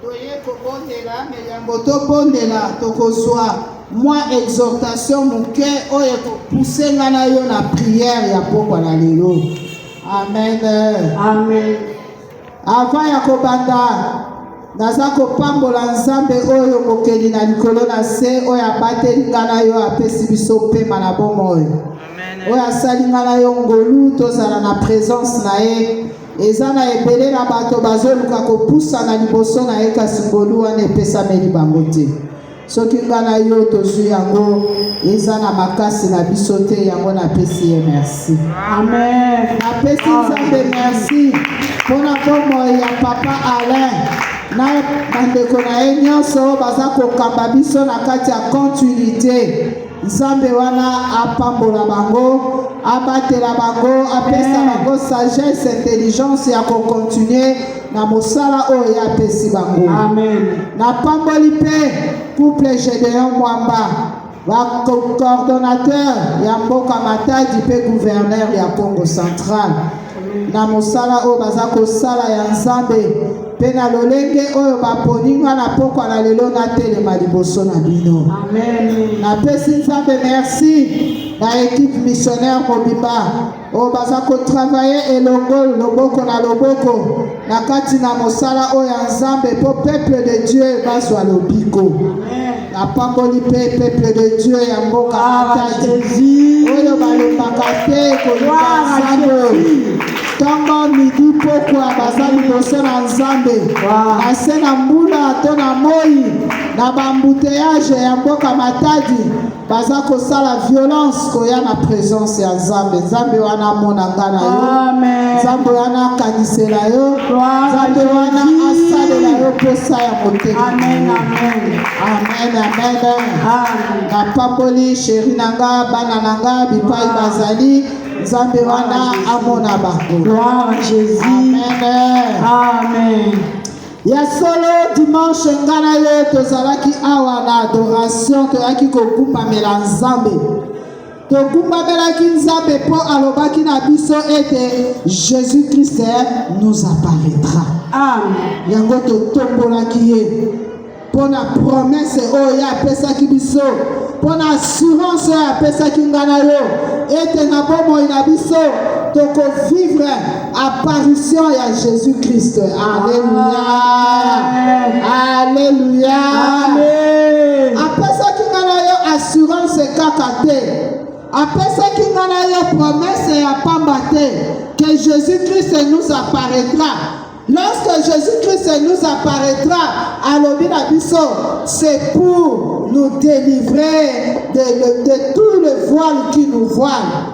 toye kobondela me yambo tobondela tokozwa mwa exhortation moke oyo ekopuse nga na yo na priere ya pokwa na lelo amen amen avant ya kobanda naza kopambola nzambe oyo mokeli na likolo na se oyo abateli nga na yo apesi biso mpema na bomoi oyo asali nga na yo ngolu tozala na presence na ye eza na ebele na bato bazoluka kopusana liboso na ye kasi ngolu wana epesameli bango te soki nga na yo tozwi yango eza na makasi na biso te yango napesi ye merci amen napesi nzambe merci mpo na bomoi ya papa alain na bandeko na ye nyonso baza kokamba biso na kati ya continuité Nzambe wana apambola bango, abatela bango, apesa eh. bango sagesse, intelligence ya ko continuer na mosala oyo ye apesi bango. Amen. Napamboli mpe couple Gedeon Mwamba ba coordonnateur ya mboka Matadi mpe gouverneur ya Congo central. na mosala oyo baza kosala ya Nzambe mpe na lolenge oyo baponi nga na pokwa na lelo natelema liboso na bino. Napesi Nzambe merci na ekipe missionnaire mobimba oyo baza kotravaye elongo loboko na loboko na kati na mosala oyo ya nzambe mpo peuple de dieu bazwa lobiko napamboli mpe peuple de dieu ya mboka matadi oyo balobaka te koluka nzambe ntongo midi pokwa baza liboso na nzambe na se na mbula to na moi na bambuteyaje ya mboka matadi baza kosala violence koya na presence ya nzambe nzambe wana amona nga na yo nzambe wana akanisela yo nzambe wana asalela yo mposa ya motema amen amen napamboli sheri na nga bana na nga bipai bazali nzambe wana amona bango amen Ya solo dimanche nga na ye tozalaki awa na adoration toyaki kokumbamela Nzambe. Tokumbamelaki Nzambe mpo alobaki na biso ete Jésus Christ nous apparaîtra. Amen. Yango totombolaki ye mpo na promese oyo ye apesaki biso mpo na assurance oyo apesaki nga na yo ete na bomoi na biso tokovivre apparition ya Jésus Christ. Alléluia. Alléluia. Apesaki nga na yo assurance kaka te. Apesaki nga na yo promesse ya pamba te que Jésus Christ nous apparaîtra. Lorsque Jésus Christ nous apparaîtra, alobi na biso, c'est pour nous délivrer de, de, de tout le voile qui nous voile.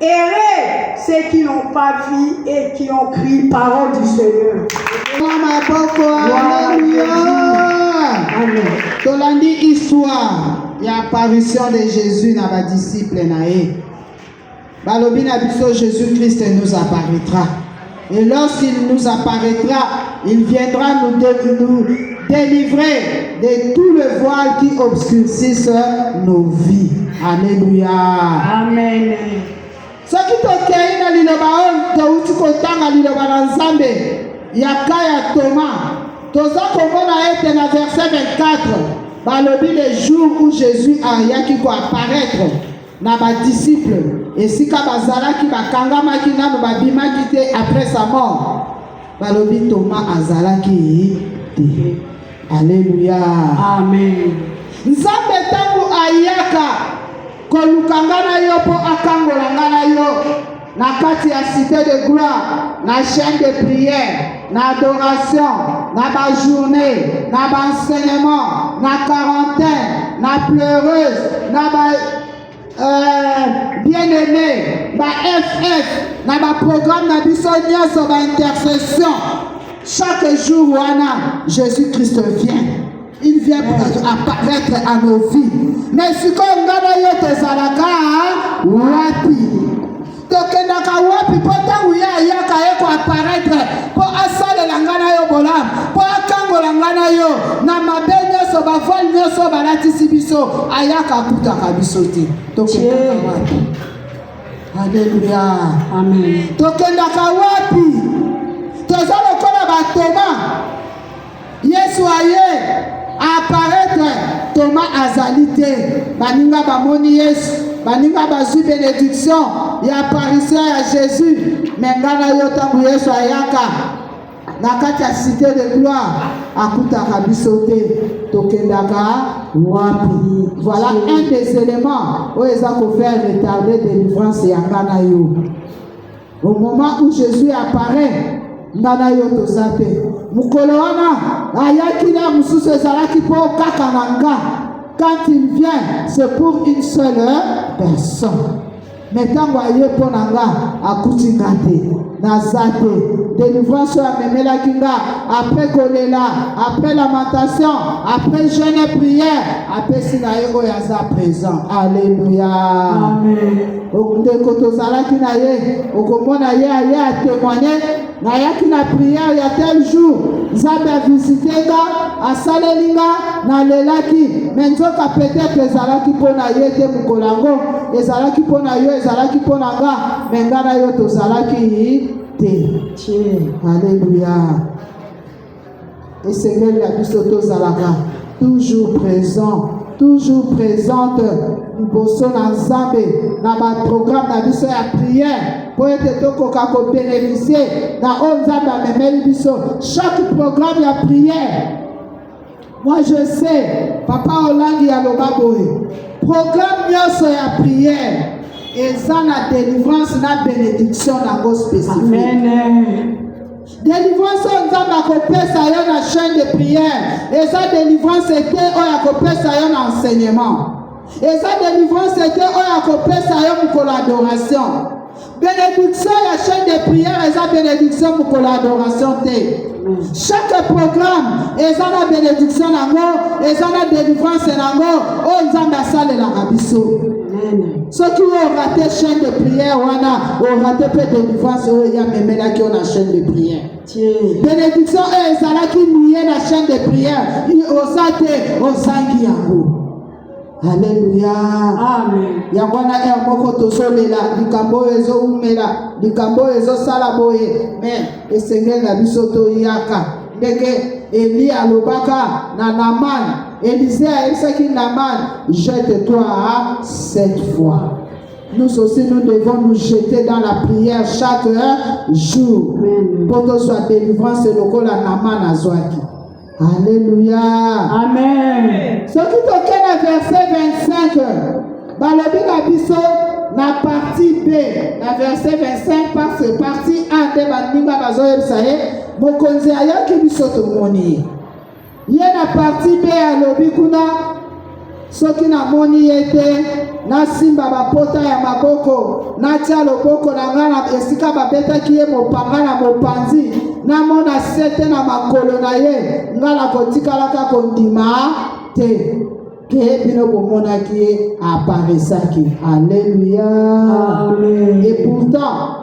Heureux ceux qui n'ont pas vu et qui ont pris parole du Seigneur. tolandi histoire ya apparition de jésus na badisciple na ye balobi na biso jésus christ nous apparaîtra Et lorsqu'il nous apparaîtra, il viendra nous, dé- nous délivrer de tout le voile qui obscurcisse nos vies. Alléluia. Amen. soki tokei na liloba oyo touti kotanga liloba na nzambe ya ka ya toma toza komona ete na verset 24 balobi le jour où jésus ayaki koaparaitre na ba disciples esika bazalaki bakangamaki nano babimaki te après sa mort balobi Thomas azalaki te Alléluia Amen Nzambe tango ayaka koluka nga na yo mpo akangola nga na yo na kati ya cité de gloire na chaîne de prière na adoration na bajournée na baenseignement na quarantaine na pleureuse na ba euh, bien aimé ba ff na baprogramme na biso nyonso baintercession chaque jour wana jésus christ vient il vient apparaître à nos vies mais sikoyo nga na yo tozalaka wapi tokendaka wapi mpo ntango ye ayaka ye koaparaitre mpo asalela ngai na yo bolamu mpo akangola ngai na yo na mabe nyonso bavole nyonso balatisi biso ayaka akutaka biso te tokendaka wapi aleluya tokendaka wapi toza lokola batoma Yesu aye aparetre Thomas azali te baninga bamoni Yesu baninga bazwi benediction ya apparition ya Jésus me ngai na yo ntango Yesu ayaka na kati ya cité de gloire akutaka biso te tokendaka wapi voilà un des éléments oyo eza kofaire retarder délivrance ya ngai na yo au moment où jésus apparaît nga na yo toza te mokolo wana ayaki na mosusu ezalaki mpo kaka na nga quand il vient c'est pour une seule personne me ntango aye mpo na nga akuti nga te naza te délivrance oyo amemelaki nga après kolela après lamentation après jeune et prière apesi na ye oyo aza présent alleluya ndeko tozalaki na ye okomona ye aye atemoigne nayaki na priere ya tel jour nzambe avisite nga asaleli nga nalelaki me nzoka petetre ezalaki mpo na ye te mokolo yango ezalaki mpo na yo ezalaki mpo na nga me nga na yo tozalaki te aleluya esengeli na biso tozalaka toujours présent toujours présente liboso na nzambe na baprograme na biso ya prière mpo ete tokoka kobenefisie na oyo nzambe amemeli biso chaque programme ya prière Moi je sais, papa Olangi aloba boye, programme nyonso ya prière eza na délivrance na bénédiction nango spécifique. Délivrance oyo Nzambe akopesa yo na chaîne de prière eza délivrance ete oyo akopesa yo na enseignement. eza delivrance te oyo akopesa yo mokolo adoration benediction ya chaine de prière eza benediction mokolo adoration te chaque programme eza na benediction nango eza na delivrance nango oyo nzambe asalelaka biso soki oyo orate chaine de prière wana orate mpe delivrance oyo ye amemelaki yo na chaine de prière benediction oyo ezalaki nie na chaine de prière oza te ozangi yango Haleluya. Amen. Yango wana heure moko tozolela likambo oyo ezowumela, likambo oyo ezosala boye, me esengeli na biso toyaka ndenge Eliya alobaka na Namane. Elisee ayebisaki Namane, jette-toi hein, cette fois. Nous aussi, nous devons nous jeter dans la prière chaque jour. Pour que soit délivrance, le col à Naman Azouaki. Alléluia. Amen. Ce qui toke na verset 25 balobi na biso na partie B na verset 25 parce que partie A nde baninga bazoyebisa ye mokonzi ayoki biso tomoni ye ye na partie B alobi kuna Soki namoni ye te, nasimba bapota ya maboko, natya loboko na ngai na esika babetaki ye mopanga na mopanzi, namona sete na makolo na ye, ngai nakotikalaka kondima te ke bino bomonaki ye aparesaki. Aleluya! Et pourtant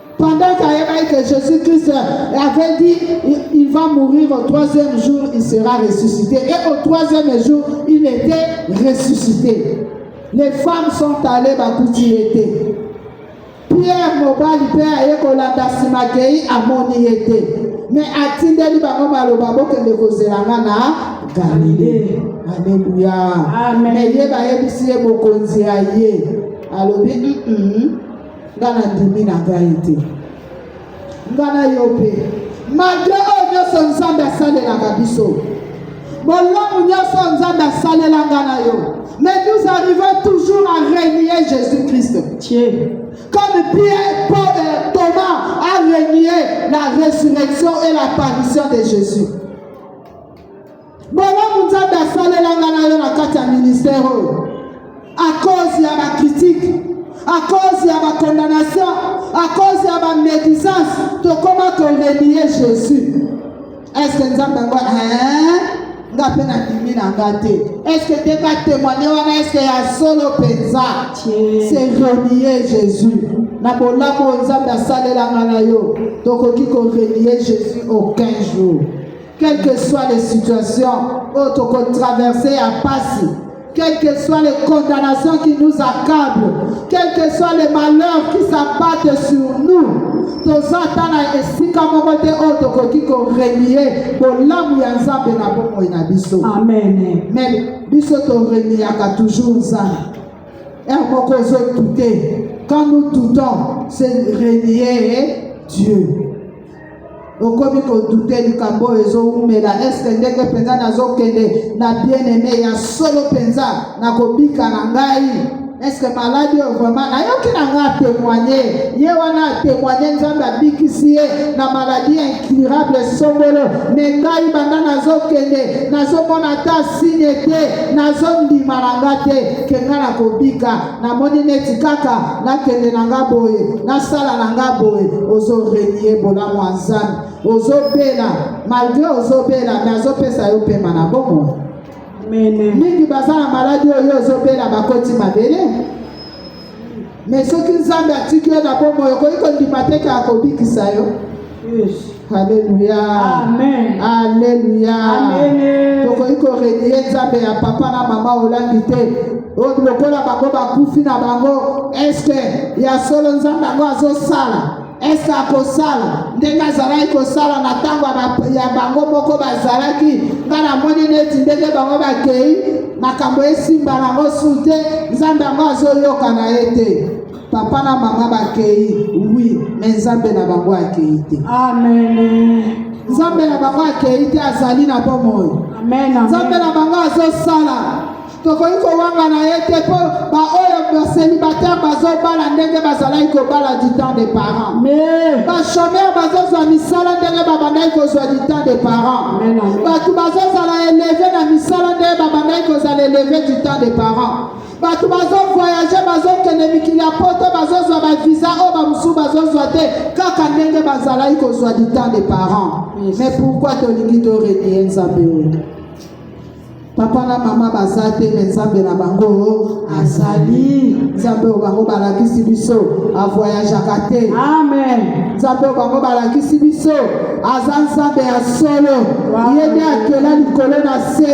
Pendant qu'Ayeba que Jésus-Christ avait dit, il va mourir au troisième jour, il sera ressuscité. Et au troisième jour, il était ressuscité. Les femmes sont allées à était. Pierre Mobal, Pierre Ayekolanda Simakei, Amoni était. Mais atindeli bango maloba bokende kozela nga na galile aleluya me ye bayebisi ye mokonzi ya ye alobi mm -mm. nga na ndimi na ngai te nga na yo mpe malgre oyo nyonso nzambe asalelaka biso bolamu nyonso nzambe asalela nga na yo mais nous arrivons toujours à renier jésus christ comme pierre paul euh, thomas a renié la résurrection et l'apparition de jésus Bolamu Nzambe asalela nga na yo na kati ya ministère oyo à cause ya ba critique à cause ya ba condamnation à cause ya ba médisance tokoma korelie Jésus est-ce que Nzambe yango hein nga mpe nandimi na nga te estce te batemoigne wana estce ya solo mpenza se renie jésus na bolamu oyo nzambe asalelanga na yo tokoki korelie jésus aucun jour Quelle que soit les situations oyo tokotraverse ya mpasi quelles que soient les condamnations qui nous accablent, quels que soient les malheurs qui s'abattent sur nous, toza ata na esika moko te oyo tokoki korenie bolamu ya nzambe na bomoi na biso amen me biso toreniaka toujours nzambe er moko ozotute quand nous tutons c'est renie dieu okomi kodute likambo oyo ezowumela eske ndenge mpenza nazokende na bien-aime ya solo mpenza na kobika na ngai eske maladi oyo vraimen nayoki na ngai atemoigne ye wana atemoigne nzambe abikisi ye na maladi incurable songolo me ngai banda nazokende nazomona ata signe te nazondima na ngai te ke ngai nakobika namoni neti kaka nakende na nga boye nasala na nga boye ozorenie bolamu ya nzambe ozobela malgre ozobela me azopesa yo pema na bomo mingi baza na maladi oyo ozobela bakoti mabele me soki nzambe atiki yo na bomoi okoki kondima teke akobikisa yo Alléluia. Amen. Alléluia. Amen. Tokoki ko renier Nzambe ya papa na mama olangi te. Oyo oh, lokola bango bakufi na bango, est-ce que ya solo Nzambe yango azosala? ese akosala ndenge azalaki kosala na ntango ya bango moko bazalaki ngai namoni neti ndenge bango bakei makambo esimba nango su te nzambe yango azoyoka na ye te Papa na mama bakeyi, oui, mais Nzambe na bango akeyi te. Amen. Nzambe na bango akeyi te, azali na bomoi. Amen. Nzambe na bango azosala tokoki kowangana ye te mpo baoyo baselibatere bazobala ndenge bazalaki kobala du temps de parent bachomere bazozwa misala ndenge babandaki kozwa du temps de parent bato bazozala eleve na misala ndenge babandaki kozala eleve du temps de parent bato bazovoyage bazokende mikili ya poto bazozwa bavisa oyo bamosusu bazozwa te kaka ndenge bazalaki kozwa du temps de parents mais pourquoi tolingi torelie nzambe oyo papa na mama baza te me nzambe na bango azali nzambe oyo bango balakisi biso avoyageaka te amen nzambe oyo bango balakisi biso aza nzambe ya solo ye nde akela likolo na se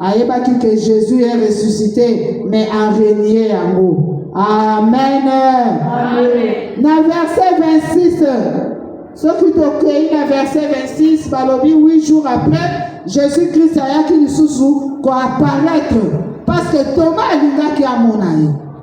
Ayebaki que Jesus est ressuscité, mais a renier yango. Amen. Amen. Na verset 26, soki tokei na verset 26, balobi 8 jours après, Jésus-Christ ayaki lisusu ko apparaître parce que Thomas alingaki amona ye.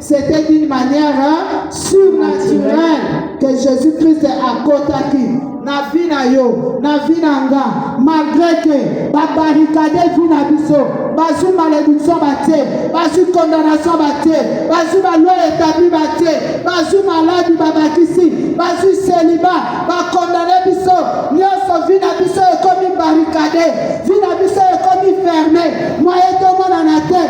C'était d'une manière hein, surnaturelle que Jésus-Christ a contacté na vie na yo na vie na nga malgré que babarricade vie na biso bazwi malédiction batie bazwi condamnation batie bazwi baloi établi batie bazwi maladi babakisi bazwi seliba bakondane biso nyonso vie na biso ekomi barricade vie na biso ekomi ferme moye tomonana te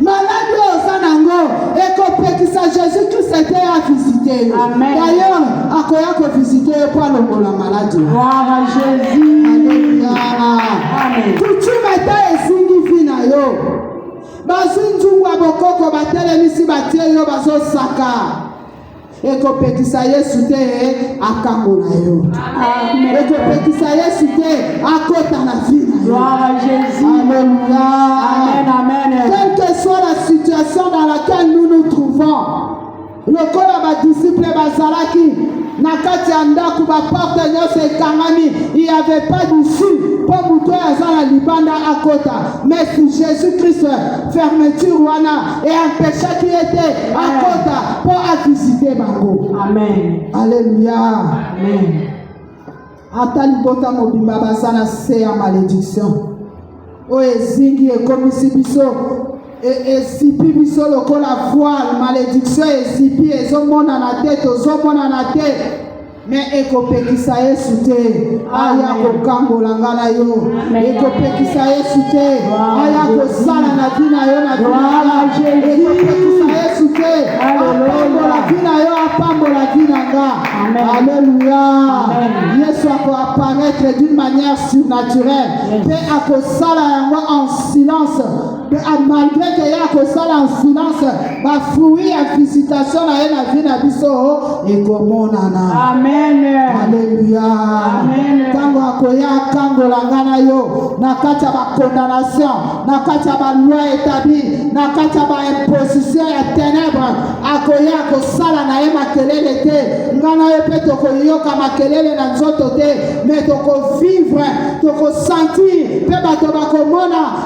Maladi oyo oza nango ekopekisa Jésus Christ ete ya visite yo. Amen. D'ailleurs, akoya ko visite yo mpo alongola maladi. Gloire à Jésus. Alléluia. Amen. Coutume ata ezingi vi na yo. Bazwi nzungu ya bokoko batelemisi batie yo bazosaka. ekopekisa yesu te akangola yo ekopekisa yesu te akota na vie quelle que soit la situation dans laquelle nous nous trouvons lokola badisiple bazalaki na kati ya ndako baporte nyonso ekangami il y avait pas d'issue mpo moto oyo aza na libanda akota mais jésus christ fermeture wana e empechaki ye te akota mpo avisite bango aleluya ata libota mobimba baza na se ya malediction oyo ezingi ekomisi biso esipi biso lokola voile malediction esipi ezomonana te tozomonana te me ekopekisa yesu te aya kokangola nga na yo ekopekisa yesu te aya kosala na vi na yo na ekopekisa yesu te apambola vi na yo apambola vi na nga alleluya yesu akoapparaître d'une manière surnaturelle mpe akosala yango en silence malgré que ya kosala en silence ba fruits ya visitation na ye na vie na biso ekomonana amen alleluia amen ntango akoya akangola ngai na yo na kati ya bakondanation na kati ya baloi etabli na kati ya baimposition ya tenebre akoya kosala na ye makelele te ngai na yo mpe tokoyoka makelele na nzoto te me tokovivre tokosentir mpe bato bakomona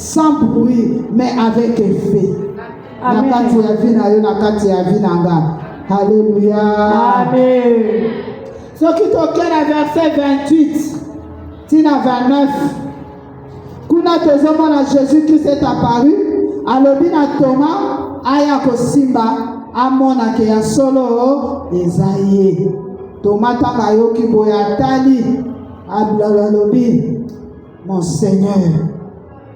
sans bruit mais avec effet na kati ya vie na yo na kati ya vie na nga alleluya soki toke na verset 28 ti na 29 kuna tozomona jésus christ est apparu alobi na toma aya kosimba amona ke ya solo eza ye toma ntango ayoki boye atali alobi Mon Seigneur,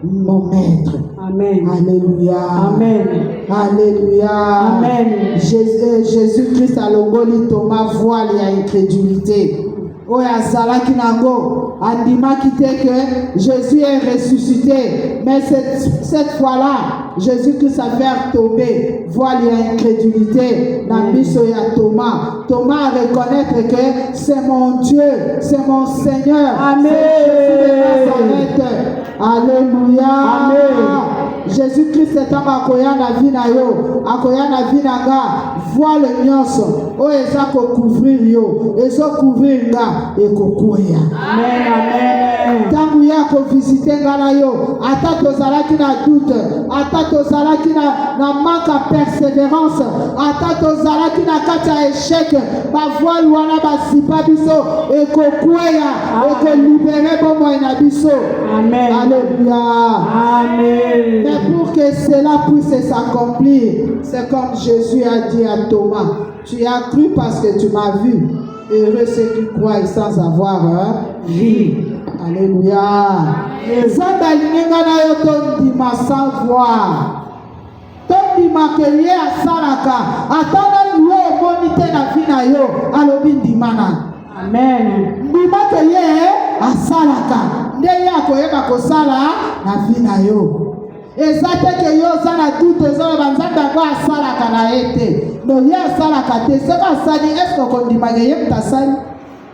mon maître. Amen. Alléluia. Amen. Alléluia. Amen. Euh, Jésus-Christ a longoli Thomas voile ya incrédulité. oyo azalaki nango andimaki te que Jésus est ressuscité mais cette, cette fois-là Jésus-Christ a fait tomber voile ya incrédulité na miso ya Thomas Thomas a reconnaître que C'est mon Dieu, c'est mon Seigneur. Amen. Alléluia. Amen. Jésus-Christ est ntango akoya na vie na yo akoya na vie na nga voile nyonso oyo eza kocouvrir yo ezocouvrir nga ekokwea ntango ye akovisite nga na yo ata tozalaki na doute ata tozalaki na, na manque ya persévérance ata tozalaki na kati ya échec bavoile wana basipa biso ekokweya ekolibere bomoi na biso alleluia mais pour que cela puisse s'accomplir c'est comme jésus a dit à thomas tu as cru parce que tu m'as vu heureux ceux qui croient sans avoir hein, vie alleluia nzambe alingi ngai na yo tondima sans voir Tondima ke ye asalaka ata nani yo omoni te na vi na yo alobi ndima na amen ndima ke ye asalaka nde ye akoyeba kosala na vi na yo eza te ke yo oza na dute ozoloba nzambe yango asalaka na ye te no ye asalaka te soki asali eske okondimaka ye moto asali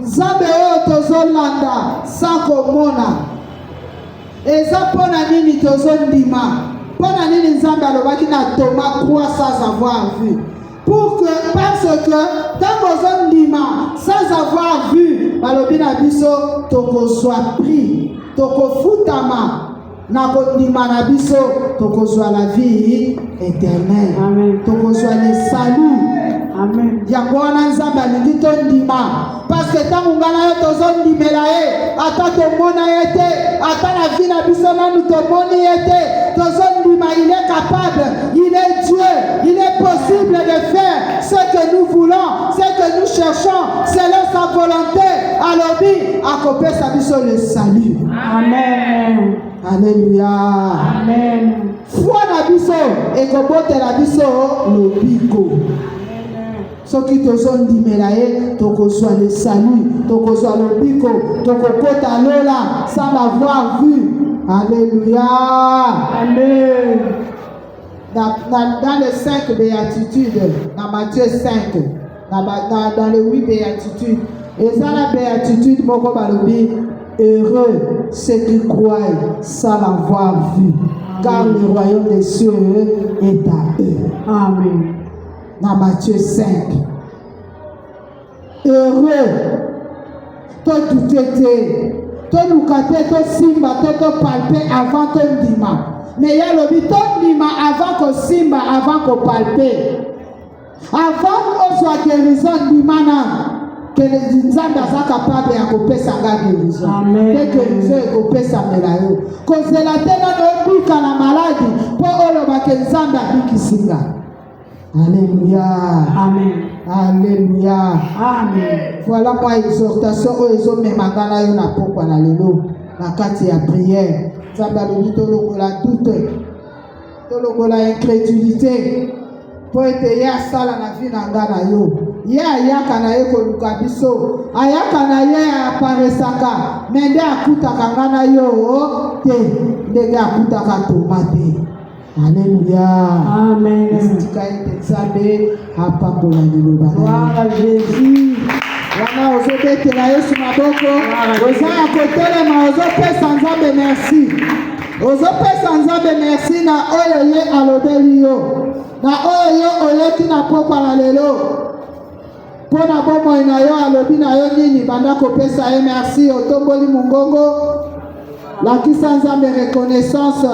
Nzambe oyo tozolanda sans komona eza mpo na nini tozondima? Mpo na nini Nzambe alobaki na Thomas crois sans avoir vu? Pour que, parce que ntango ozondima sans avoir vu, balobi na biso tokozwa prix, tokofutama na kondima na biso tokozwa la vie éternelle tokozwa le salut yango wana nzambe alingi tondima parceke ntango ngai na yo tozondimela ye ata tomona ye te ata na vi na biso nanu tomoni ye te tozondima il est capable il est dieu il est possible de faire ce que nous voulons ce que nous cherchons selon sa volonté alobi akopesa biso le salut Amen. Alléluia. Amen. Foi na biso ekobotela biso lobiko. soki tozondimela ye tokozwa le salut tokozwa lobiko tokokota lola sans l'avoir vu alléluia amen dans, dans, dans les cinq béatitudes dans matthieu 5 na ba na dans le oui béatitude eza na béatitude moko balobi heureux ceux qui croient sans l'avoir vu car le royaume des cieux est à eux amen na Matthieu 5 heureux todute te toluka te tosimba te topalpe avant tondima mais ye alobi tondima avant kosimba avant kopalpe Avant ozwa guérison ndima nanu kele nzambe aza kapable ya kopesa nga guérison mpe guérison ekopesamela yo kozela te nano obika na maladi mpo olobake nzambe abikisi nga aleluya aleluya voilà mwa exhortation oyo ezomema nga na yo na pokwa na lelo na kati ya priere nzambe alobi tolongola dute tolongola incredulité mpo ete ye asala na vi na nga na yo ye ayaka na ye koluka biso ayaka na ye aparesaka me nde akutaka nga na yo te ndenge akutaka toma te aleluya amen tika ete nzambe apakola liloba na Yesu. Wana ozobetela Yesu maboko, oza ya kotelema, ozopesa Nzambe merci, ozopesa Nzambe merci na oyo ye alobeli yo, na oyo ye oyoki na pokwa na lelo mpo na bomoi na yo. Alobi na yo nini? Banda kopesa ye merci, otomboli mongongo, lakisa Nzambe reconnaissance.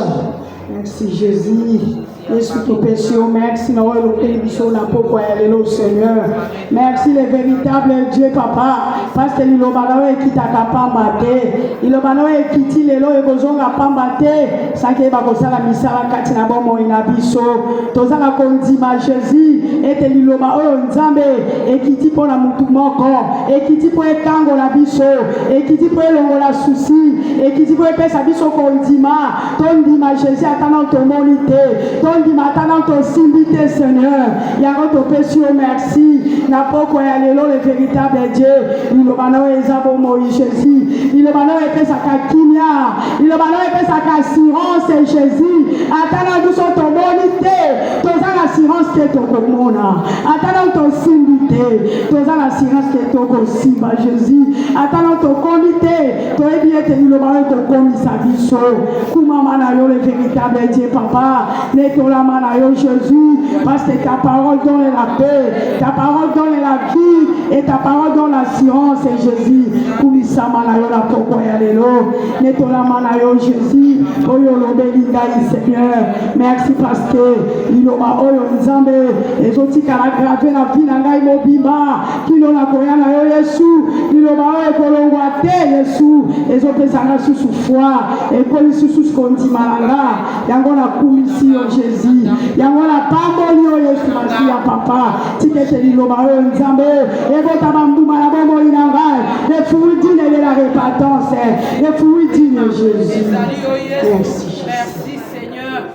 Merci Jésus. Yesu topesi yo merci na oyo elokeli biso na pokwa ya lelo seigneur merci le véritable dieu papa parce que liloba na oyo ekitaka pamba te liloba na oyo ekiti lelo ekozonga pamba te saki eyeba kosala misala kati na bomoi na biso tozanga kondima jésus ete liloba oyo nzambe ekiti mpo na motu moko ekiti mpo ekangola biso ekiti mpo elongola susi ekiti mpo epesa biso kondima tondima jésus ata nano tomoni te tondima ata nano tosimbi te seigneur yango topesi yo merci na pokwa ya lelo le véritable dieu liloba na oyo eza bomoi jésus liloba na oyo epesaka kimia liloba na oyo epesaka assurance jésus ata na biso tomoni te toza na assurance te tokomona ata nano tosimbi te toza na assurance te tokosimba jésus ata nano tokomi te toyebi ete liloba oyo ekokomisa biso kumama na yo le véritable dieu papa netolama na yo jésus parce que ta parole donne la paix ta parole donne la vie et ta parole donne l'assurance et jésus kumisama na yo na pokwa ya lelo netolama na yo jésus oyo olobeli ngai seigneur merci parce que liloba oyo nzambe ezotikala grave na vie na ngai mobimba kino nakoya na yo yesu liloba oyo ekolongwa te yesu ezopesa nga susu foi ekoli susu kondima na nga yango nakumisi yo jésus yango napamboli yo yesu masiya papa tikete liloba oyo nzambe ebota bambuma na bomoi na ngai le fruit digne de la repentance le fruit digne jésus merci, merci.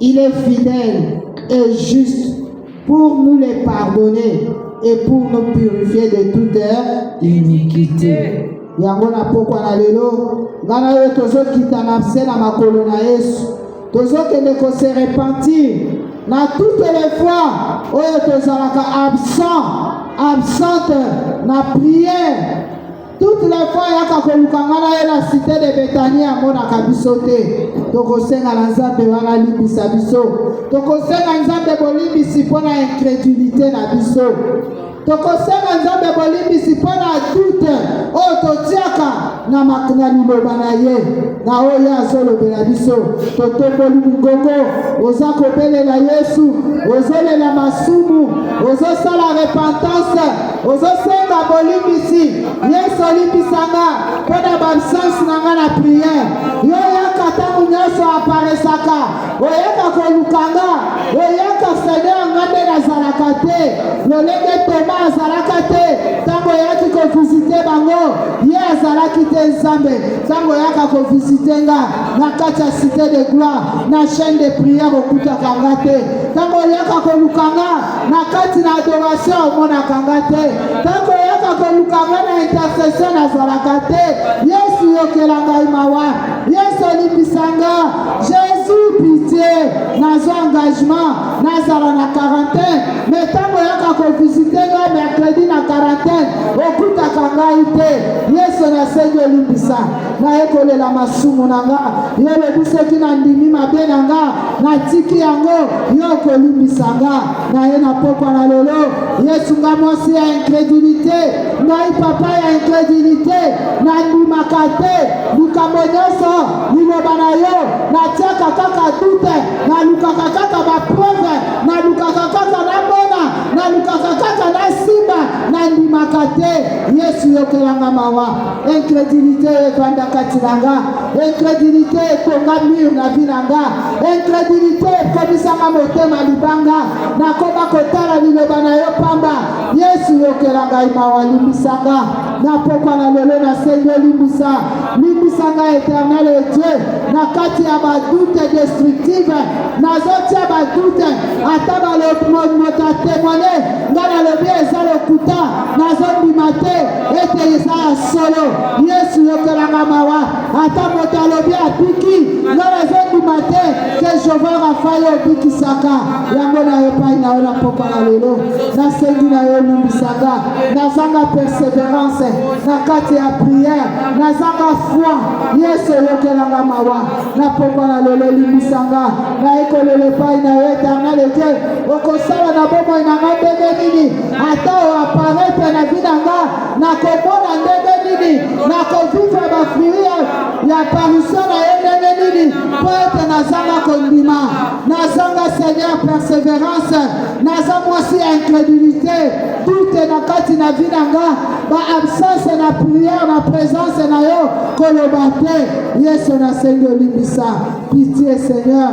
Il est fidèle et juste pour nous les pardonner et pour nous purifier de toute iniquité. yango na pokwa na lelo ngai na yo tozokitana nse na makolo na yesu tozokende kose repentir na toutes les fois oyo tozalaka absent absente na prière Toutes les fois yaka koluka nga na ye na cité de Betanie amonaka biso te. Tokosenga na Nzambe wana alimbisa biso. Tokosenga Nzambe bolimbisi mpo na incrédulité na biso. Tokosenga Nzambe bolimbisi mpo na doute oyo totiaka na makna liloba na ye na oyo azolobela biso. Totomboli mongongo, oza kobelela Yesu, ozolela masumu, ozosala repentance ozosenga bolimbisi yesu olimbisa nga mpo na baabsence na nga na priere yo oyaka ntango nyonso aparesaka oyaka koluka nga oyaka seigneur nga nde nazalaka te lolenge toma azalaka te ntango oyaki kovizite bango ye azalaki te nzambe ntango oyaka kovizite nga na kati ya cité de gloire na chaine de priere okutaka nga te ntango oyaka koluka nga na kati na adoration omonaka nga te ntango oyaka koluka nga na intercession nazalaka te yesu yokela ngai mawa yesu olimbisa nga jesus pitie nazwa engagement nazala na quarantaine me ntango oyaka kovisite nga mercredi na quarantaine okutaka ngai te yesu nasengi olimbisa naye kolela masumu na nga yo lobi soki nandimi mabe na nga natiki yango yo okolimbisa nga naye na pokwa na lelo yesu nga mwasi ya incredulité ngai papa ya incredulité nandimaka te likambo nyonso liloba na yo natiaka kaka dute nalukaka kaka bapreuve nalukaka kaka namona nalukaka kaka nasimba nandimaka te yesu yokelanga mawa incredulité efanda kati na nga incredulité etonga mur na vi na nga incredulité ekomisanga motema libanga nakoba kotala liloba na yo pamba yesu yokela ngai mawa limbisanga napokwa na lelo nasengi olimbisa limbisanga eternel e dieu na kati ya badoute destructive nazotia badoute ata balomoto atemone ngai nalobi eza lokuta nazondima te ete eza ya solo yesu yokelanga mawa ata moto alobi abiki nga nazondima te ke jehova rafael obikisaka yango na yo epai na yo na pokwa na lelo nasengi na yo olimbisaka nazanga perseverance na kati ya priere nazanga foi yesu oyokelanga mawa na pokwa na lelo olimbisanga nayekolela epai na yo eternel ete okosala na bomoi na nga ndenge nini ata o apparaître na vie na nga nakomona ndenge nini nakovivre bafruit ya apparition na ye ndenge nini mpo ete nazanga kondima nazanga seigneur persévérance naza mwasi ya incrédulité doute na kati na vie na nga baabsence na prière na présence na yo koloba te yesu nasengi olimbisa pitie seigneur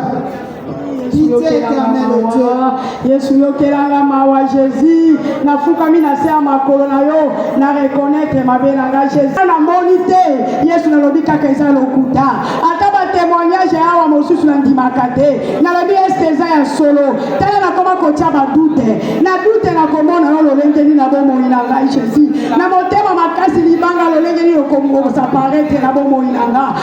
yesu yokelanga mawa jésus nafukami na se ya makolo na yo na reconnaître mabe na nga jésus namoni te yesu nalobi kaka eza lokuta ata batémoignage ya awa mosusu nandimaka te nalobi este eza ya solo tala nakoma kotya badute na dute nakomona yo lolenge nini na bomoi na ngai jésus na motema makasi libanga lolenge nini okosaparete na bomoi na nga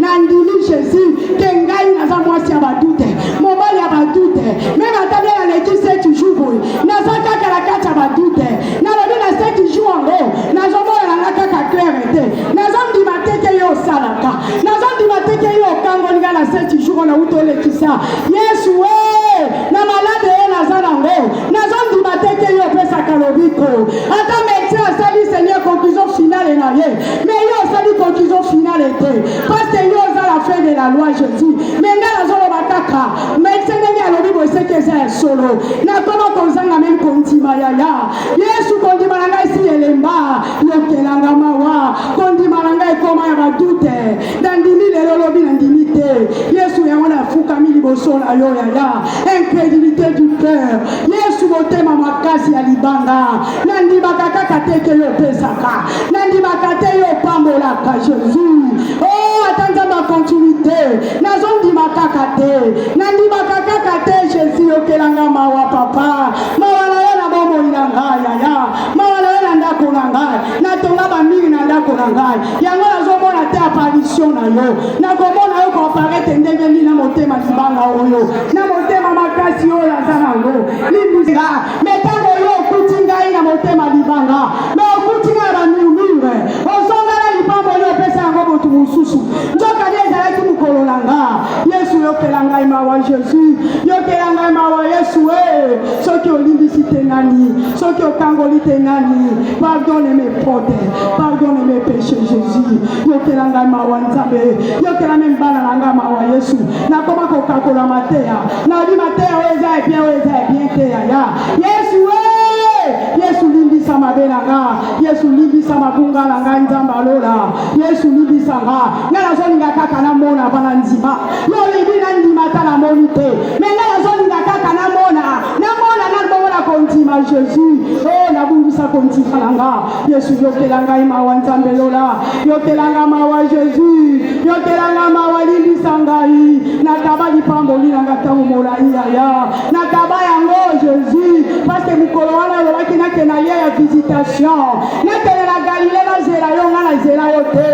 nandimi jesus ke ngai naza mwasi ya badute mobali ya badute meme ata bia naleki seti jour boye naza kaka na kati ya badute nalobi na seti jour yango nazomonana nga kaka claire te naza ndima te ke yo osalaka naza ndima te ke yo okangoli nga na seti jour oyo nauti olekisa yesu e na malade ye naza nango nazondima te te yo opesaka lobiko ata medecin asali seigneur conclusion finale na ye me yo osali conclusion finale te parce que yo oza la fin de la loi jésus me ngai nazoloba kaka medecin ndenge alobi boeseki eza ya solo nakoma kozanga meme kondima yaya yesu kondima na ngai si elemba yokelanga mawa kondima na ngai ekoma ya badute nandimi lelo lobi nandimi te yesu yango nafukami liboso na yo yaya incrédulité du cœur yesu motema makasi ya libanga nandimaka kaka te ke yo opesaka nandimaka te yo opambolaka jésus o oh, ata nzambe akontinuité nazondima kaka te nandimaka kaka te jésus yokelanga mawa papa mawa na yo na bomoi na ngai yaya mawa na yo na ndako na ngai natonga bamingi na ndako na ngai yango nazomona te aparisio na yo nakomona yo koaparete ndenge nini na motema libanga oyo na motema makasi oyo naza nango libuza me ntango oyo okuti ngai na motema libanga me okuti ngai na bamurmure ozongala lipambo oyo opesa yango moto mosusu nzoka nde ezalaki mokolo na nga yesu yokela ngai mawa jesus yokela ngai mawa yesu e soki olimbisi te nani soki okangoli te nani pardon pote pardonne mes péchés jésus yokela ngai mawa nzambe yokela me mbala na ngai mawa yesu nakoma kokakola mateya nayebi mateya oyo eza ya bien oyo eza ya bien te yaya yesu e yesu limbisa mabe na nga yesu limbisa mabunga na ngai nzambe alola yesu limbisa nga ngai nazolinga kaka namona bana ndima yo olingi nandima ata namoni te me ngai nazolinga kaka namona namona nabongola kondima jesus o oh, nabungisa kondima na nga yesu yokela ngai mawa nzambe lola yokela nga mawa jesus yokela nga mawa limbisa ngai nakaba lipamboli na nga ntango molai yaya nakaba yango jesus paske mokolo wana olobaki nakenda ye ya visitation nakende na galile nazela yo ngai nazela yo te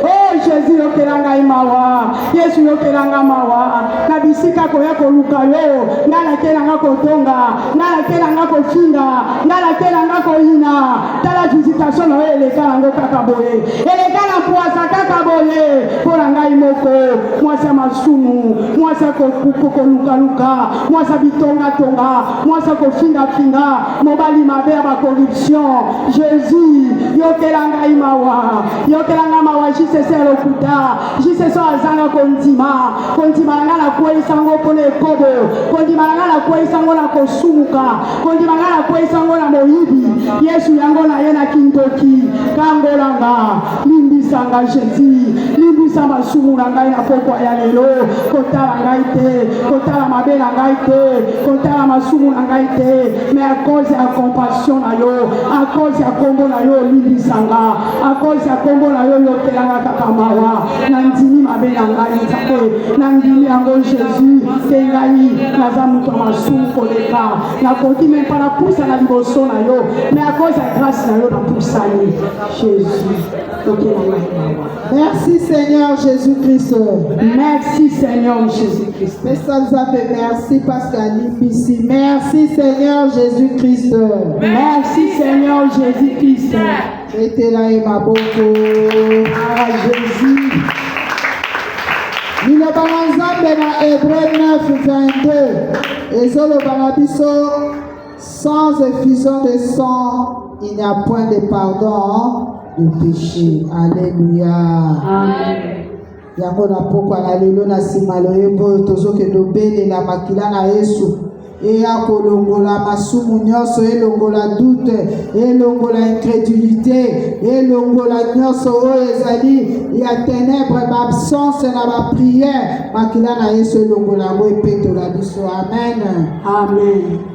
o oh, jesus yokela ngai mawa yesu yokela nga mawa na bisika koya koluka yo nga nakela nga kotonga nga nakela nga kofinga nga nakela nga koyina tala visitation na yo eleka nango kaka boye eleka na pwasa kaka boye mpo na ngai moko mwasi ya masumu mwasi ya kolukaluka mwasi ya bitongatonga mwasi ya kofingafinga mobali mabe ya bacorruption jésus yokela ngai mawa yokela ngai mawa jcc ya lokuta jiseso azanga kondima kondima na ngai nakweyisa yango mpo na ekobo kondima na ngai nakweyisa yango na kosumuka kondima na ngai nakweyisa yango na moyibi yesu yango na ye na kindoki kangolanga limbisa nga jesi limbisa masumu na ngai na pokwa ya lelo kotala ngai te kotala mabe na ngai te kotala masumu na ngai te mais à cause ya compassion na yo à cause ya nkombo na yo olimbisa nga à cause ya nkombo na yo yokelanga kaka mawa nandimi mabe na ngai nzambe nandimi yango jésus te ngai naza moto ya masumu koleka nakoki me mpa napusa na liboso na yo mais à cause ya grâce na yo napusani jésus yokelanga mawa merci seigneur jésus christ merci seigneur jésus christ pesa nzambe merci parce que alimbisi merci seigneur jésus christ merci seigneur jésus christ Betela ye maboko. Ah, Jésus. Liloba na Nzambe na Hébreu 9:22 ezoloba na biso sans effusion de sang, il n'y a point de pardon de péché. Alléluia. Amen. yango na mpokwa na lelo na nsima loyembo oyo tozokende obelela makila na yesu eya kolongola masumu nyonso elongola dute elongola incrédulité elongola nyonso oyo ezali ya ténèbre baabsence na baprière makila na yesu elongola yango epetola biso amen amen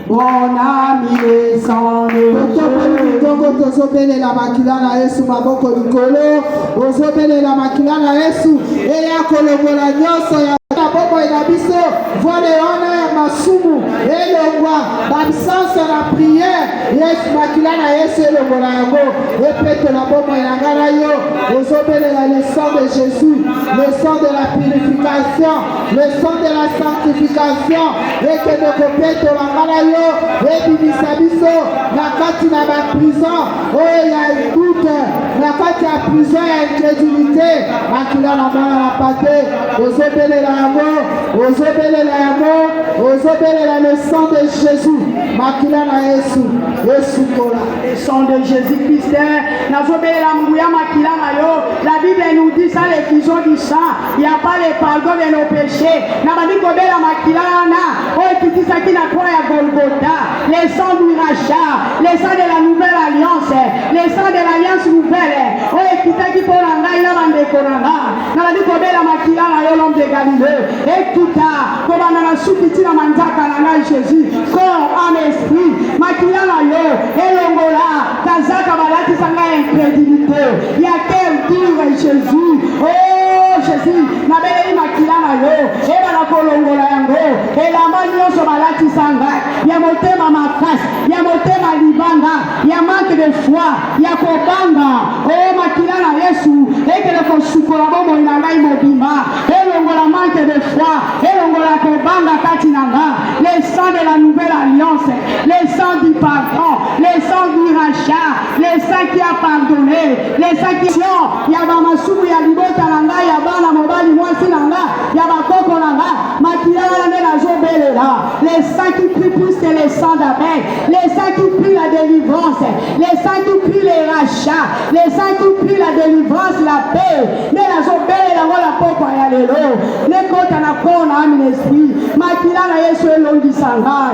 Mon ami descende. Ntongo tozobelela makila na Yesu, maboko likolo, ozobelela makila na Yesu eya kolongola nyonso ya bomoi na biso vole wana ya masumu elongwa baabsence na priere yesu makila na yesu elongola yango epetola bomoi na ngai na yo ozobelela le sang de jésus le sang de la purification le son de la sanctification ekende kopetola nga na yo ebimisa biso na kati na baprison oyo oh, ya doute na kati ya prison ya incrédulité makila na mwana na pate ozobelela yango ozobelela yango ozobelela le sang de jésus makila na yesu esukola le sang de jésus christ nazobelela nguya makila na yo la bible nous dit ça les fusions du sang ya pas le pardon de nos péchés na bandi kobela makila wana oyo ekitisaki na croix ya golgota le sang du rachat le sang de la nouvelle alliance le sang de l'alliance nouvelle oyo ekitaki mpo na ngai na bandeko na nga na bandi kobela makila na yo l'homme de galilée ekita kobanda na suki ntina manzaka na ngai jésus corps en esprit makila na yo elongola Kazaka balatisa nga incredulité ya quel dire Jésus oh Jésus nabeleli makila na yo ebala kolongola yango elamba nyonso balatisa nga ya motema makasi ya motema libanga ya manque de foi ya kobanga oh makila na Yesu ekele kosukola bomoi na ngai mobimba elongola manque de foi elongola kobanga kati na nga le sang de la nouvelle alliance le sang du pardon, le sang du rachat, le sang qui a pardonné, le sang qui a ya ba masumu ya libota na ngai ya bana mobali mwasi na ngai ya bakoko na ngai makila wana nde nazobelela le sang qui prie plus que le sang d'Abel, le sang qui prie la délivrance, le sang qui prie le rachat, le sang qui prie la délivrance, la paix nde nazobelela ngo na pokwa ya lelo nekota na kona ami na esprit makila na Yesu elongisa ngai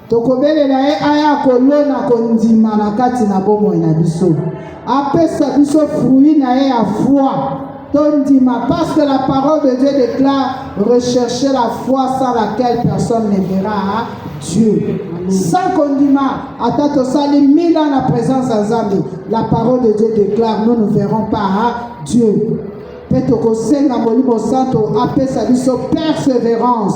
Tokobelela ye aya kolona kondima na kati na bomoi na biso, apesa biso fruit na ye ya foi tondima, parce que la parole de Dieu déclare recherchez la foi sans laquelle personne ne verra hein, Dieu. Sans kondima, ata tosali mille ans na présence ya Nzambe, la parole de Dieu déclare nous ne verrons pas hein, Dieu. Mpe tokosenga Molimo Santo apesa biso perseverance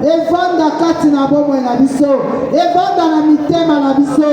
evanda kati na bomoi na biso evanda na mitema na biso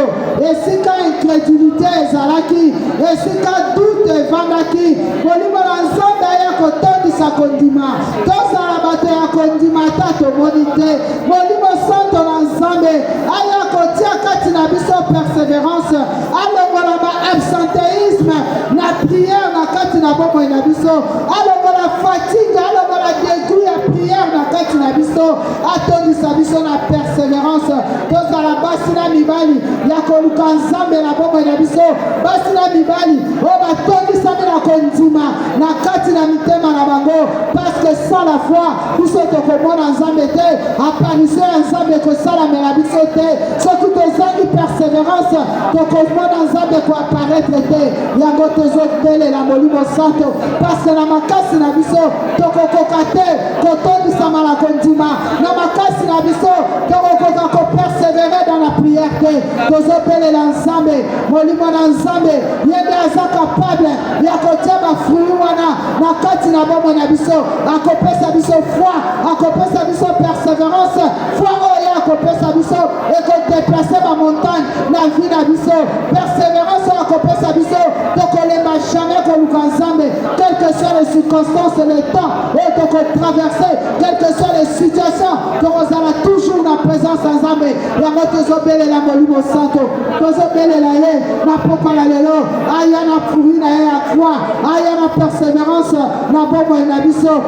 esika incredulité ezalaki esika doute evandaki molimo na nzambe aya kotondisa kondima tozala bato ya kondima ata tomoni te molimo santo na nzambe aya kotia kati na biso perseverance alongola ba absenteisme na prière na kati na bomoi na biso alongola fatigue alongola degout ya prière na kati na biso atondisa biso na persévérance tozala basi na mibali ya koluka nzambe na bomoi na biso basi na mibali oyo batondisami na kondima na kati na mitema na bango parce que sans la foi biso tokomona nzambe te apanise ya nzambe ekosalamela biso te soki tozangi perseverance tokomona nzambe koaparetre te yango tozobelela molimo santo pase na makasi na biso tokokoka te kotondisama na kondima na makasi na biso tokokoka kopersevere dans la prière te tozobelela nzambe molimo na nzambe ye nde aza kapable ya kotia bafruit wana na kati na bomoi na biso akopesa biso foi akopesa biso perseverance foi oyo ye akopesa biso ekodeplace bamontagne na vie na biso perseverance oyo akopesa biso tokolemba jamais koluka nzambe quel que soit les circonstances le temps oyo tokotraverse quel que soit les situations tokozala toujours na présence ya nzambe yango tozobelela molimo santo tozobelela ye na pokwa ya lelo aya na furi na ye ya foi aya na perseverance na bomoi na biso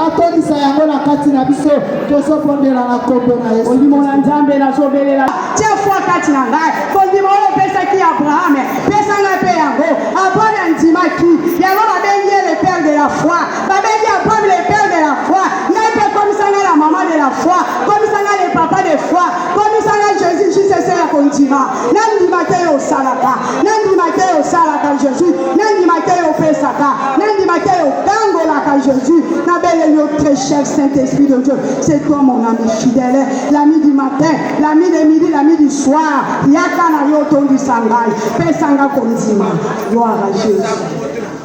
atondisa yango na kati na biso tozobondela na nkombo na yesu ondimo na nzambe nazobelela tie foi kati na ngai kondima oyo opesaki abrahame pesa ngai mpe yango abrahame andimaki yango babengi ye le père de la foi babengi abrahame le père de la foi ngai mpe komisa ngai la mama de la foi komisa ngai le papa de foi komisa ngai jésus jisese ya kondima nandima te yo osalaka nandima te yo osalaka jésus nandima te yo opesaka nandima te yo otangolaka jésus nabeleli yo très cher saint esprit de dieu c'est toi mon ami fidèle l'ami du matin l'ami de midi l'ami du soir yaka na yo otondisa ngai pesanga kondima gloire à jésus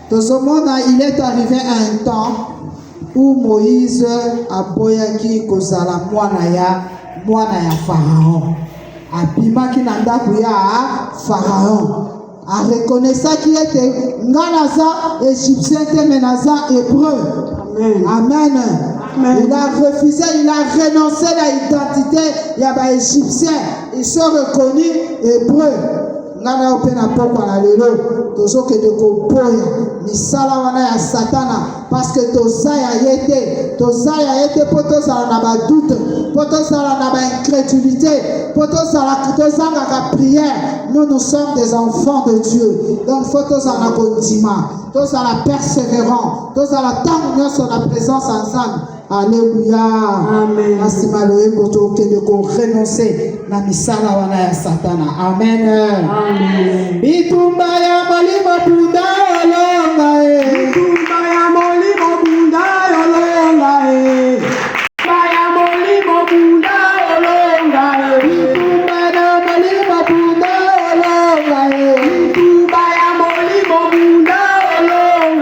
tozomona il est arrivé à un temps où moïse aboyaki kozala mwana ya mwana ya pharaon abimaki na ndako ya pharaon arekonesaki ete nga naza égyptien te me naza hébreu amen, amen. Amen. Il a refusé, il a renoncé à l'identité. Il y a des Égyptiens, ils sont reconnus hébreux. nga na yo mpe na pokwa na lelo tozokende koboya misala wana ya satana parceke toza ya ye te toza ya ye te mpo tozala na badoute mpo tozala na baincrédulité mpo tozangaka prière nous nous sommes des enfants de dieu donc fo tozala na kondima tozala persévérant tozala ntango nyonso na présence ya nzambe Alléluia. Amen. Na nsima loyembo tokende ko renoncer na misala wana ya Satana. Amen. Amen. Bitumba ya molimo bunda olonga e. Bitumba ya molimo bunda olonga e.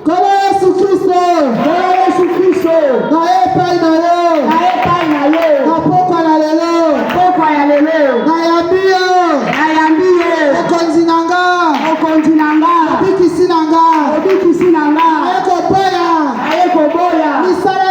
Nkolo Yesu Kristo. Nkolo Yesu Kristo. Na epai na yo. Na epai na yo. Na pokwa na lelo. Na pokwa ya lelo. Nayambi yo. Nayambi yo. Mokonzi na nga. Mokonzi na nga. Mobikisi na nga. Mobikisi na nga. Naye koboya. Naye koboya. Misala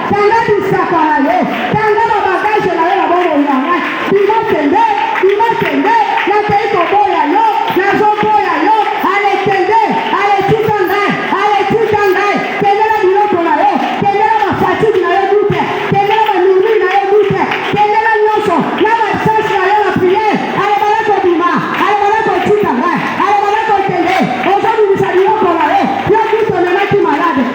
Tanga bisaka na yo, tanga ba bagage na yo na bomoi na ngai. Bima kende, bima kende, nakei koboya yo, nazoboya yo. Ale kende, ale tika ngai, ale tika ngai. Kende na biloko na yo, kende na ba fatigue na yo dute, kende na ba murmure na yo dute, kende na nyonso, na ba chance na yo na prière. Ale bala kobima, ale bala kotika ngai, ale bala kokende. Ozobimisa biloko na yo, yo kutu omemaki malade,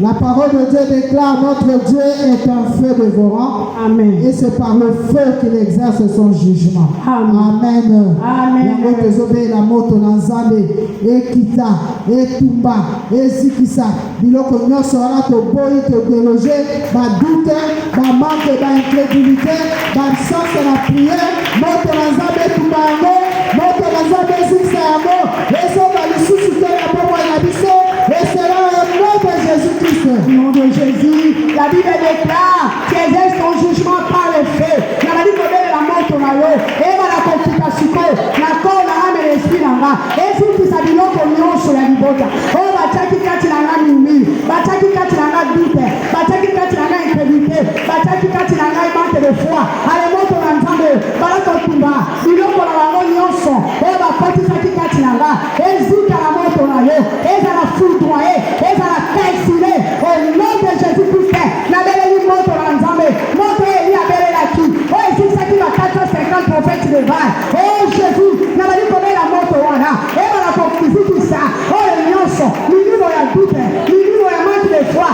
La parole de Dieu déclare notre Dieu est un feu dévorant. Amen. Et c'est par le feu qu'il exerce son jugement. Amen. Amen. Yango tozobela moto na Nzambe ekita etumba ezikisa biloko nyonso wana toboyi todeloge badute bamanke baincrédulité baabsence na prière moto na Nzambe etumba yango moto na Nzambe ezikisa yango Ezoka lisusu te na bomoi na biso, et cela au nom de Jésus-Christ. Au nom de Jésus, la Bible déclare, César son jugement par le feu. Nazali kobelela moto na yo, ebala kokita sikoyo na koo na nga na esprit na nga, ezutisa biloko nyonso ya libota oyo batiaki kati na nga mimi, batiaki kati na nga dute, batiaki kati na nga incredulité, batiaki kati na ngai manque de foi. Ale moto na Nzambe, bala kotumba Biloko na bango nyonso oyo bakotisaki kati na nga ezika na moto na yo, ezala foudroye, ezala calcine, au nom de Jésus Christ, nabeleli moto na Nzambe, moto oyo Elie abelelaki, oyo ezikisaki ba 450 prophètes de Baal. Oh Jésus, nabali kobela moto wana ebala kozikisa oyo nyonso, milimo ya doute, milimo ya manque de foi,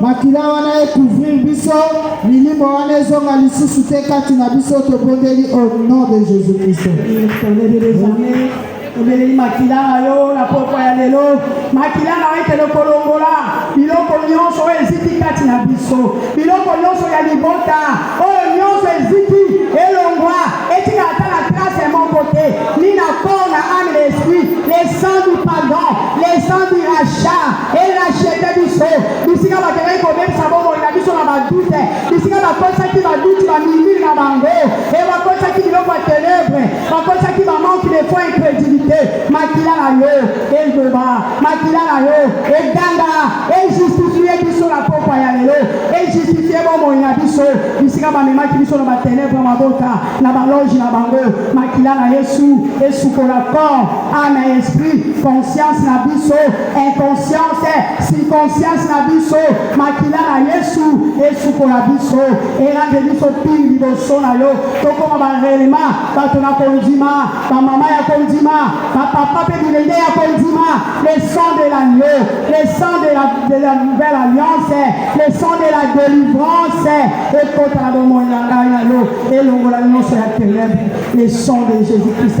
Makila wana ekouvrir biso, milimo wana ezonga lisusu te kati na biso, tobondeli au nom de Jésus Christ. obeleli makila na yo na pokwa ya lelo makila na yo ekende kolongola biloko nyonso oyo eziki kati na biso biloko nyonso ya libota oyo nyonso eziki elongwa etika ata na trace moko te ni na corps na ame na esprit le sang du pardon le sang du rachat elashete biso bisika bakendaki kobebisa bomoi na biso na badute bisika bakosaki baduti bamilili na bango e bakosaki biloko ya tenebre bakosaki bamanque de foi incrédulité makila na yo eloba makila na yo eganga ejustifie biso na pokwa ya lelo ejustifie bomoi na biso bisika bamemaki biso na batenebre mabota na baloge na bango makila na yesu esukola corps ame esprit conscience na biso inconscience circonstance na biso makila na yesu esukola biso elande biso pili liboso na yo tokoma barelema bato na kondima bamama ya kondima bapapa mpe bilenge ya kondima le sang de l'agneau le sang de la, de la nouvelle alliance le sang de la délivrance ekota na bomoi na ngai na yo elongola nyonso ya ténèbre le sang de jésus christ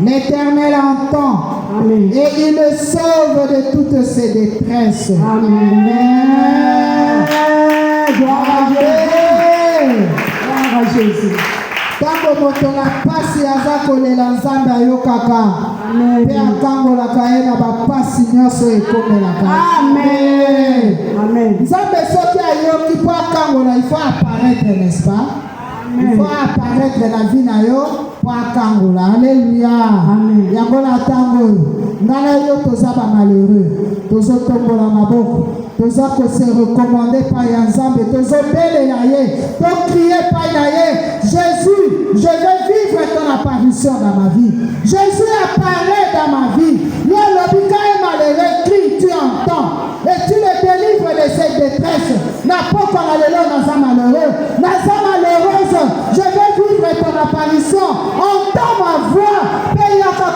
L'Éternel entend Amen. et il le sauve de toutes ses détresses. Amen. Gloire à Jésus. ntango moto na mpasi aza kolela nzambe ayokaka mpe akangolaka ye na bampasi nyonso ekomelaka nzambe soki ayoki mpo akangola ifo aparetre n'est-ce pas mpo aparetre na vi na yo mpo akangola aleluya yango na ntango oyo ngai na yo toza bamalheureux tozotombola maboko toza kose recommande epai ya nzambe tozobelela ye tokrie epai na ye jésus je vais vivre ton apparition dans ma vie jésus apparaît dans ma vie yo olobi kaye malheureux crie tu entends Et tu me délivres de cette détresse. Na pokwa na lelo naza malheureux. Naza malheureuse. Je vais vivre ton apparition. Entends ma voix. Mpe yaka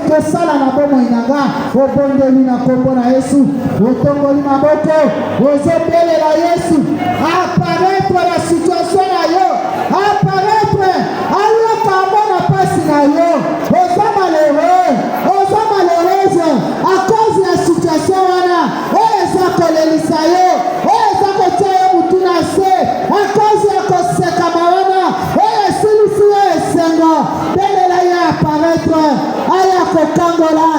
kosala na bomoi na nga. Obondeli na kombo na Yesu. Otongoli maboko. Ozobelela Yesu. Apparaître la situation na yo. Apparaître. Alaka mona pasi na yo. A cause ya situation wana oyo eza kolelisa yo, oyo eza kotia yo mutu na se, a cause ya kosekama wana oyo esilisi yo esengo, belela ye apparaître, aya kokangola,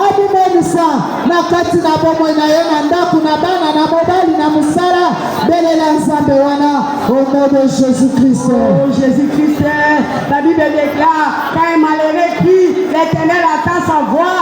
amimonisa na kati na bomoi na yo, na ndako, na bana, na mobali, na mosala. Belela Nzambe wana au nom de Jésus-Christ. Oh, Jésus-Christ, la Bible déclare, quand un malheureux crie, l'Éternel attend sa voix.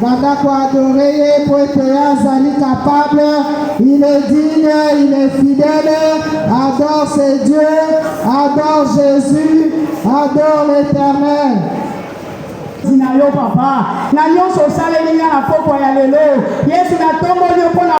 Banda ko adore ye po ete ye azali capable, il est digne, il est fidèle. Adore ce Dieu, adore Jésus, adore l'Éternel. Zina yo papa na nyonso osaleli nga na pokwa ya lelo Yesu natomboli yo mpo na